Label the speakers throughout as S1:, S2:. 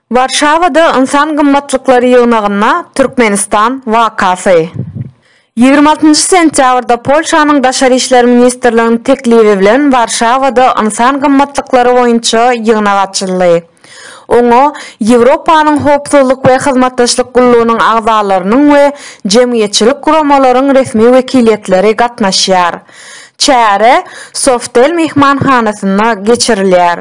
S1: Warşawada Ynsan gymmatlyklary ýygnagynda Türkmenistan wakasy. Ýigrimi altynjy sentýabrda Polşanyň Daşary işler ministrliginiň teklibi bilen Warşawada Ynsan gymmatlyklary boýunça ýygnak açyldy. Oňa Ýewropanyň Howpsuzlyk we Hyzmatdaşlyk Gullugynyň agzalarynyň we jemgyýetçilik guramalaryň resmi wekiliýetleri gatnaşýar. Çäre Softel myhmanhanasynda geçirilýär.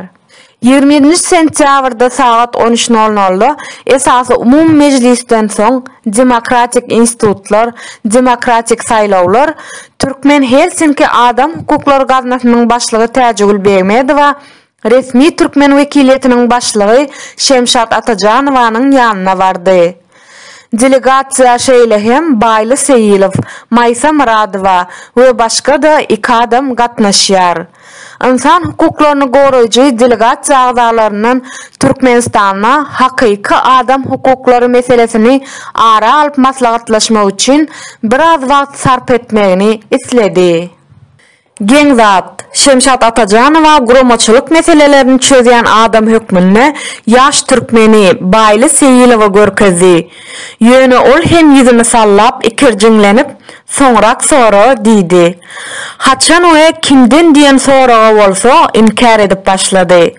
S1: Ýigrimi ýedinji sentýabrda sagat on üç nol nolda esasy umumy mejlisden soň Demokratik institutlar, demokratik saýlawlar Türkmen-Helsinki Adam hukuklary gaznasynyň başlygy Täjigül Begmedowa resmi türkmen wekiliýetiniň başlygy Şemşat Atajanowanyň ýanyna bardy. Delegasiýa şeýle hem Baýly Seýilow, Maýsa Myradowa we başga-da iki adam gatnaşýar. Ynsan hukuklaryny goraýjy delegasiýa agzalaryndan Türkmenistanda hakyky adam hukuklary meselesini ara alyp maslahatlaşmak üçin biraz wagt sarp etmegini isledi. Geň zat. Şemşat Atajanowa guramaçylyk meselelerini çözýän adam hökmünde ýaş türkmeni Baýly Seýilowa görkezdi. Ýöne ol hem ýüzüni sallap ikirjiňlenip, Soňrak sora! diýdi. Haçan we kimden diýen soraga bolsa inkär edip başlady.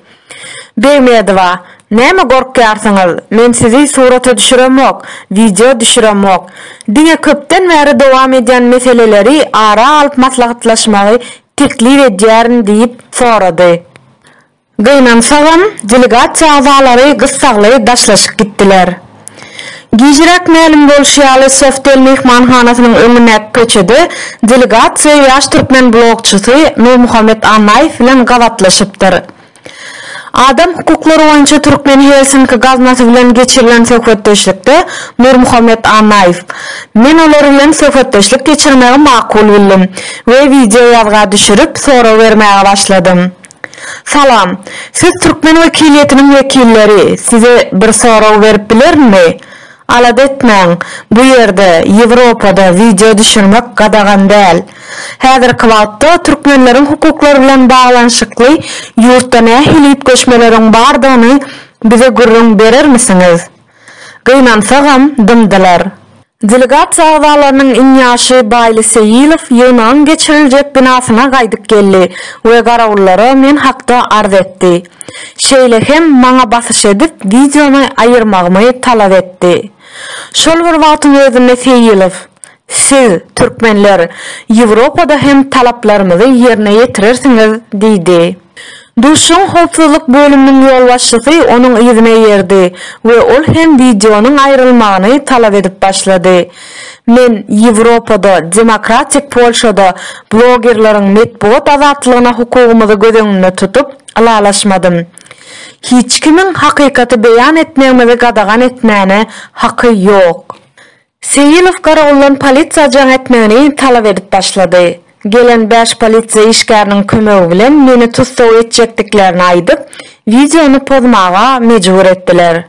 S1: Begmedowa, Näme gorkýarsyňyz, men sizi surata düşüremok, wideo düşüremok. Diňe köpden bäri dowam edýän meseleleri ara alyp maslahatlaşmagy teklip edýärin diýip sorady. Gynansagam, delegasiýa agzalary gyssagly daşlaşyp gitdiler. Gijiräk mälim bolşy ýaly, Softel myhmanhanasynyň öňündäki köçede delegasiýa ýaş türkmen blogçysy Nurmuhammet Annaýew bilen gabatlaşypdyr. Adam hukuklary boýunça Türkmen Helsinki gaznasy bilen geçirilen söhbetdeşlikde Nurmuhammet Annaýew, Men olar bilen söhbetdeşlik geçirmegi makul bildim we wideoýazga düşürip, sorag bermäge başladym. Salam. Siz türkmen wekiliýetiniň wekilleri, size bir sorag berip bilerinmi? Alada etmäň, bu ýerde, Ýewropada wideo düşürmek gadagan däl. Häzirki wagtda türkmenleriň hukuklary bilen baglanyşykly ýurtda nähili üýtgeşmeleriň bardygyny bize gürrüň berermisiňiz? Gynansagam, dymdylar. Delegatsiýa agzalarynyň iň ýaşy Baýly Seýilow ýygnagyň geçiriljek binasyna gaýdyp geldi we garawullara men hakda arz etdi. Şeýle hem maňa basyş edip, wideony aýyrmagymy talap etdi. Şol bir wagtyň özünde Seýilow. Siz, türkmenler, Ýewropada hem talaplarymyzy ýerine ýetirersiňiz diýdi. Duşuşygyň howpsuzlyk bölüminiň ýolbaşçysy onuň yzyna erdi we ol hem wideonyň aýrylmagyny talap edip başlady. Men Ýewropada, demokratik Polşada blogerleriň metbugat azatlygyna hukugymyzy göz öňünde tutup, ylalaşmadym. Hiç kimiň hakykaty beýan etmegimizi gadagan etmäne haky ýok. Seýilow garawuldan polisiýa jaň etmegini talap edip başlady. Gelen bäş polisiýa işgäriniň kömegi bilen meni tussag etjekdiklerini aýdyp, wideony pozmaga mejbur etdiler.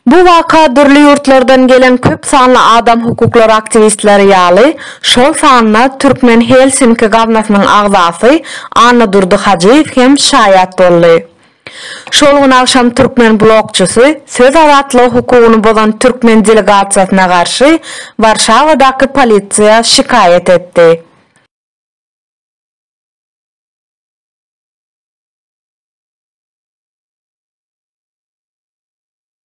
S1: Bu waka dürli ýurtlardan gelen köp sanly adam hukuklary aktiwistleri ýaly, şol sanda Türkmen Helsinki gaznasynyň agzasy Annadurdy Hajyýew hem şaýat boldy. Şol gün agşam türkmen blogçysy söz azatlygy hukugyny bozan türkmen delegasiýasyna garşy Warşawadaky polisiýa şikaýat etdi.